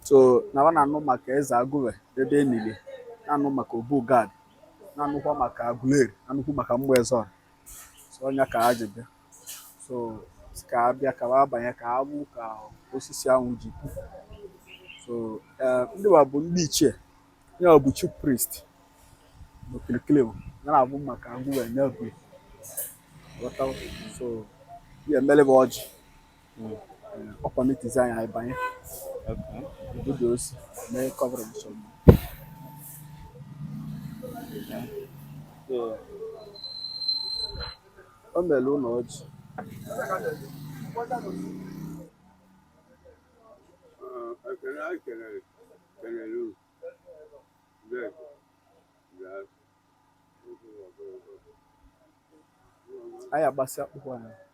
so na wa na-anụ maka eze Agụve ebe e nili ya na-anụ maka Obu Gad na-anụkwa maka Aguleri na-anụkwu maka mgbe eze ọra so ọ nya ka ha ji bịa so ka ha bịa ka ha banye ka ha fụ ka osisi ahụ ji pu so eh, ndị wa bụ ndị ichie ya ọ bụ chief priest n'okirikiri bụ ya na-afụ maka Agụve n'ebu so ya emele bụ ọjị ọ permitizi anyị anyị banye obodo osi mee coverage ọma o mere ụlọ ọjị ekele anyị kelere kelere unu ndị na anyị agbasị akpụkpọ anyị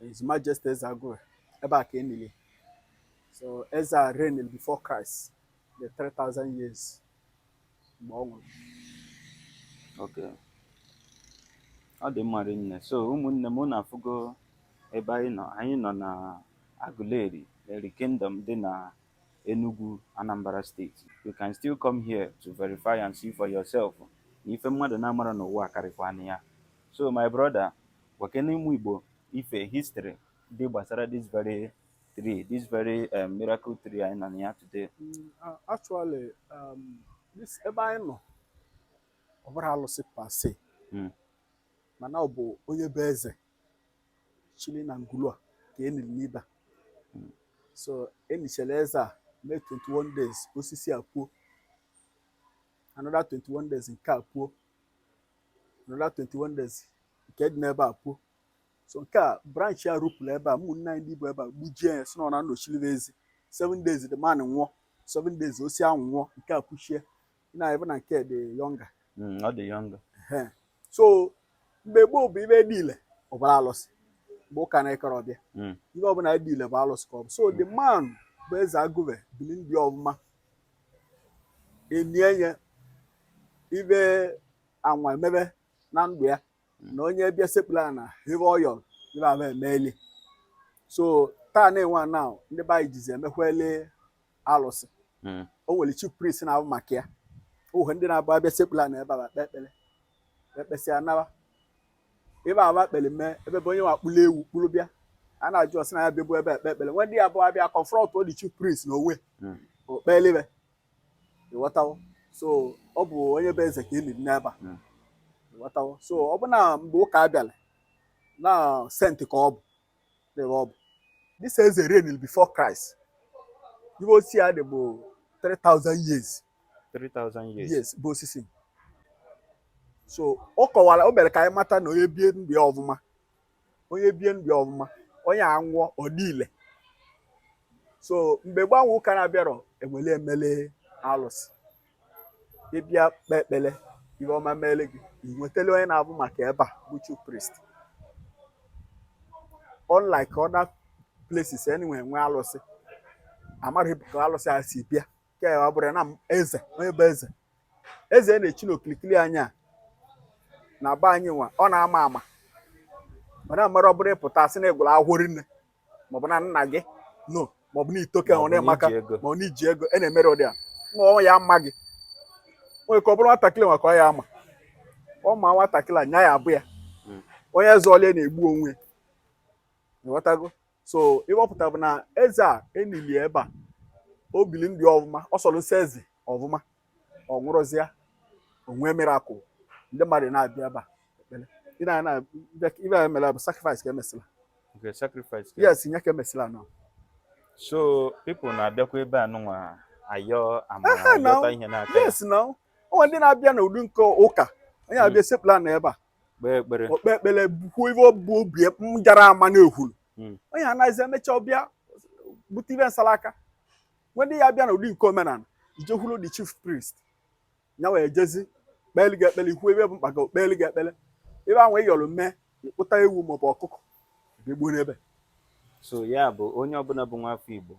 His Majesty Eze Agụve, ebe a ka e nili. So Eze a reigned before Christ, the 3,000 years mgbe ọ nwụrụ. Okay. Ọ dị mma rinne. So ụmụnne m unu afụgo ebe anyị nọ. Anyị nọ na Aguleri, Eri Kingdom dị na Enugwu, Anambra steeti. You can still come here to verify and see for yourself na ife mmadụ na-amarọ n'ụwa karịkwana ya. So my brother, Gwakene ụmụ Igbo ife history dị gbasara this very tree, this very um, miracle tree anyị nọ na ya today. Mm, uh, actually, um, this ebe anyị nọ ọ bụrọ alụsị per se hmm. mana ọ bụ onye bụ eze chili na ngulua ka e niri n'ebe a hmm. so e nichara eze a mee 21 days osisi a puo another 21 days nke a puo another 21 days nke dị n'ebe a puo so nke a branch ya rupụrụ ebe a ụmụnne anyị ndị bi ebe a gbujie ya sị na ọ nọchiri ezi 7 days the man nwụọ 7 days osisi ahụ nwụọ nke a puchie na ebe na nke dị younger Mm, ọ dị younger Ehe. so mgbe gboo bụ ife dị ile ọ bụrụ alụsị mgbe ụka na-akarọ abịa Mm. ihe ọbụla dị ile bụ alụsị ka ọ bụ so the man bụ eze Agụve bili ndụ ọfụma e nie ya ebe anwa emebe na ndụ ya na onye bịa sekpulu ana ife ọ yọ ebe a ga-emeli so taa nịnwa now ndị be anyị jizi emekwele alụsị Mm. o nwere chief priest na-afụ maka ya o nwe ndị na-abụ abịa sekpulu ana ebe a kpe ekpere e kpesịa anaba ebe awa kpere mee ebe bụ onye nwa kpụrụ ewu kpụrụ bịa a na-ajụ ọ sị na ya bịa bụ ebe ekpe ekpere nwe ndị ya bụ abịa confront ọ the chief priest na onwe Mm. okpelibe ịghọtawo so ọ bụ onye bụ eze ka e liri n'ebe a Mm. ịghọtawo so ọ bụ na mgbe ụka abịala na saint ka ọ bụ n'ebe ọ bụ this eze reign before Christ ihe osisi a dị bụ 3000 years 3000 years yes bụ osisi so ọ kọwara o mere ka anyị mata na onye bie ndụ ya ọfụma onye bie ndụ ya ọfụma onye a nwụọ ọ dị ile so mgbe gbanwe ụka na-abịarọ e wele e mele alụsị ị bịa kpee ekpere ihe ọma meele gị i wetele onye na-afụ maka ebe a bụ chief priest unlike other places anyway nwee alụsị amarọ ka alụsị a si bịa nke a ọ bụrụ na m- eze onye bụ eze eze na-echi n'okirikiri anyị a na be anyị nwa ọ na-ama ama a na-emerọ ọ bụrụ ị pụta sị na ị gụrụ akwụkwọ rinne maọbụ na nna gị no maọbụ na i toka ọ na ị maka mma ọ na i ji ego a na-emerọ ụdị a ma ọ ya ama gị nwere ike ọ bụrụ nwatakịrị nwa ka ọ ya ama ọ ma nwatakịrị nya ya abụ ya hmm. onye zọlị a na-egbu onwe ịghọtago so ive ọ pụta bụ na eze a e nili ebe a o bili ndụ ọfụma ọ sọrọ nsọ eze ọfụma ọ nwụrụzịa o nwee miracle ndị mmadụ na-abịa ebe a ekpere ị na na ive a mere bụ sacrifice ka e mesịla Okay, sacrifice. ka- yes nya ka e mesịla nọ So people na-abịakwa ebe a nụnwa ayọ amara Ehe, na- ayọta ihe n'aka ya, yes na o nwe ndị na-abịa n'ụdị nke ụka onye abịa esekpula na ebe a kpee ekpere. o kpee ekpere bukwu ive ọ bụ obi m jara ama na-ehulu Mm. onye a naazi emecha ọ bịa bute ive nsala aka nwe ndị ya bịa n'ụdị nke omenala i jekwuru the chief priest ya wee jezi kpeli gị ekpele i kwuo ive bụ mkpa gị kpeli gị ekpele ive ahụ ị yọrọ mee ị kpụta ewu maọbụ ọkụkọ ga-egbuo n'ebe so ya bụ onye ọbụla bụ nwa afọ Igbo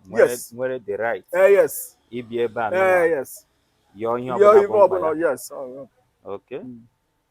nwere the right eh, yes ịbịa ebe a eh, yes yọọ ihe ọbụla yes oh, okay hmm.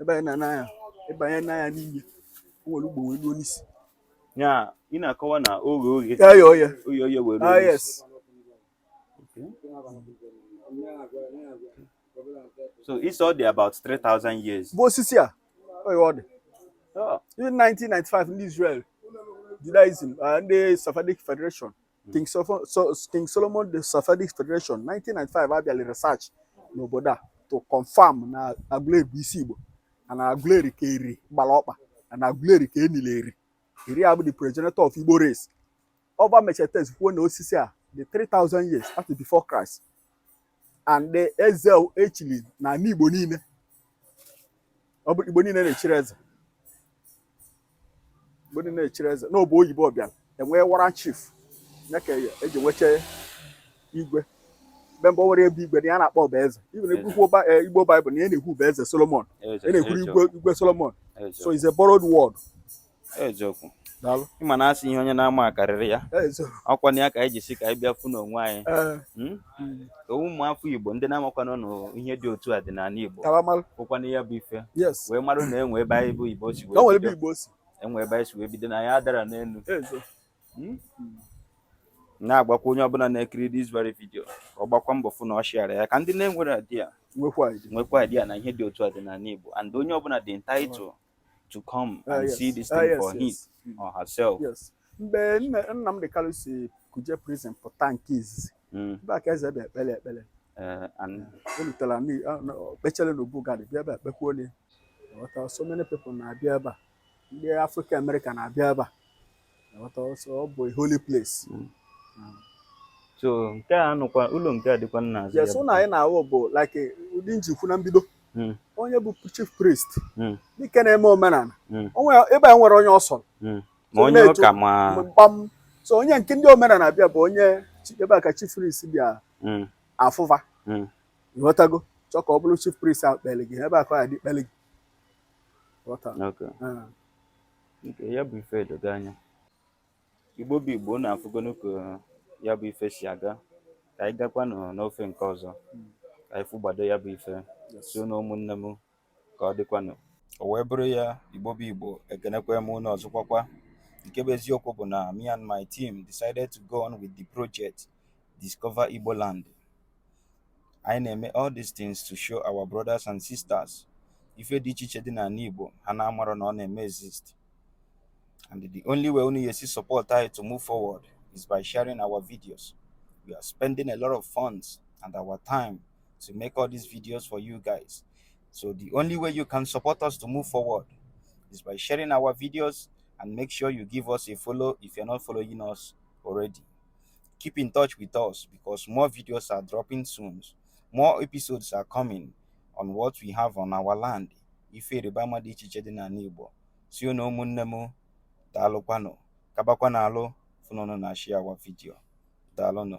ị banye n'ana ya ị banye na nya n'ime o nwere ugbo wee ruo n'isi ya ị na-akọwa na ọ ghe oghe ya ya oye oghe oghe wee ruo ah n'isi. yes so e sị ọ dị about 3000 years bụ osisi a oye ọ dị Oh, even 1995 ndị Israel Judaism ah, ndị Sephardic Federation King Solomon, so, King Solomon the Sephardic Federation 1995 abịala research n'obodo a to confirm na Aguleri bụ isi Igbo na Aguleri ka Eri gbara ọkpa na Aguleri ka e nili Eri Eri abụ the progenitor of Igbo race ọ va mecha test kwuo na osisi a dị 3000 years after before Christ and eze echili na ala Igbo niile ọ bụ Igbo niile na-echiri eze Igbo niile na-echiri eze na ọ bụ oyibo bịa enwee warrant chief ya ka eji nweche igwe mgbe mbụ enwerọ ihe bụ igwe na ya na-akpọ ya bụ eze even igbo baịbụl na ya na-ekwu bụ eze solomon ya na-ekwuru igwe solomon so is a borrowed word eziokwu daalụ ịma na asị ihe onye na-ama akarịrị ya eziokwu ọkwa na ya ka anyị ji si ka anyị bịa fụ n'onwe anyị ee Hmm? mm, Ka ụmụ afọ igbo ndị na-amakwanụ na ihe dị otu a dị n'ala igbo ka mara kwụkwana ya bụ ife yes wee marụ na enwe ebe anyị bụ igbo si ka o nwere wee ebe bido igbo si enwe ebe anyị si wee bido na ya dara n'elu eziokwu Hmm? na-agwakwa onye ọbụla na-ekiri this very video ka ọ gbakwa mbọ fụ na ọ share ya ka ndị na-enwerọ idea nwekwa idea nwekwa idea na ihe dị otu a dị n'ala igbo and onye ọbụla dị entitled to come ah, and see this ah, thing for him or herself. Yes. Mgbe Nnamdi Kanu si Kuje prison pụta nke izizi, hmm. ebe a ka eze bịa kpere ekpere. Eh, o rutere ọ kpechara na Obu Gad bịa ebe a kpekwuo onye. So many people na-abịa ebe a. Ndị African American na-abịa ebe a. so nke a nụkwa ụlọ nke a dịkwa n'azụ yes ụlọ anyị na-awụ bụ like ụdị m ji kwuo na mbido hmm. onye bụ chief priest hmm. dike na-eme omenala hmm. ebe a nwere onye ọ sọ ma onye ụka ma mkpam so onye nke ndị omenala bịa bụ onye ebe a ka chief priest bịa afụ fa ị ghọtago chọọ ka ọ bụrụ chief priest ahụ kpere gị ebe a ka ọ ya dị kpere gị ah. Nke ya bụ ife edogo anya igbo bụ igbo unu afụgonụ ka ya bụ ife si aga ka anyị gakwanụ n'ofe nke ọzọ ka anyị fụgbado ya bụ ife so na ụmụnne m ka ọ dịkwanụ o wee bụrụ ya igbo bụ igbo ekenekwa m unu ọzọkwakwa nke bụ eziokwu bụ na me and my team decided to go on with the project discover igbo land anyị na-eme all these things to show our brothers and sisters ife dị iche iche dị n'ala Igbo ha na-amarọ na ọ na-eme exist and the only way unu ga-esi support anyị to move forward is by sharing our videos we are spending a lot of funds and our time to make all these videos for you guys so the only way you can support us to move forward is by sharing our videos and make sure you give us a follow if you're not following us already Keep in touch with us because more videos are dropping soon. More episodes are coming on what we have on our land. Ife ịrịba ama dị iche iche dị n'ala Igbo. Si unu ụmụnne m daalụkwanụ kabakwa n'alụ fụ na unu na share our video. Daalụnụ.